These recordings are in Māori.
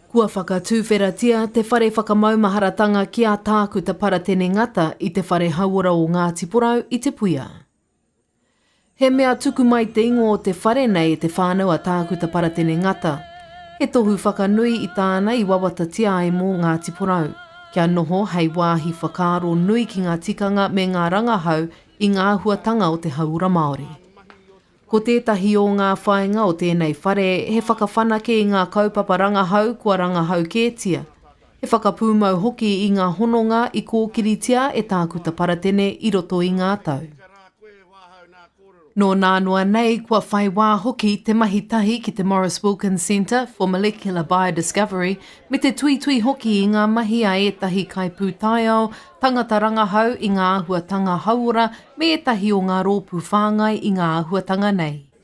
Kua whakatuwheratia te whare whakamaumaharatanga ki a Tākuta Paratene Ngata i te whare hauora o Ngāti Porou i Te Puia. He mea tuku mai te ingoa o te whare nei e te whānau a Tākuta Paratene Ngata. He tohu whakanui i tāna i wawatatia ai mō Ngāti Porou, kia noho hei wāhi whakaaro nui ki ngā tikanga me ngā rangahau i ngā āhuatanga o te hauora Māori. Ko tētahi ō ngā whāinga o tēnei whare he whakawhanake i ngā kaupapa rangahau kua rangahau kētia, He whakapūmau hoki i ngā hononga i kōkiritia e Tākuta Paratene i roto i ngā tau. Nō nānoa nei kua whai wā hoki te mahi tahi ki te Maurice Wilkins Centre for Molecular Biodiscovery me te tuitui hoki i ngā mahi a ētahi kaipūtaiao, tangata rangahau i ngā āhuatanga hauora me ētahi o ngā rōpū whāngai i ngā āhuatanga nei.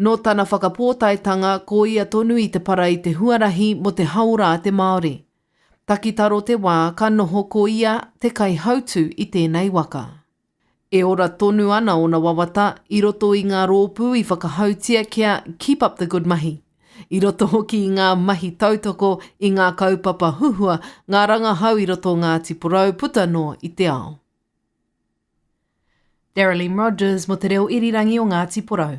Nō tana whakapōtaetanga ko ia tonu i te para i te huarahi mō te haora a te Māori. Takitaro te wā ka noho ko ia te kaihautū i tēnei waka. E ora tonu ana ōna wawata i roto i ngā rōpū i whakahautia kia Keep up the good mahi, i roto hoki i ngā mahi tautoko i ngā kaupapa huhua, ngā rangahau i roto o Ngāti Porou puta noa i te ao. Daralyn Rogers mo te reo irirangi o Ngati Porou.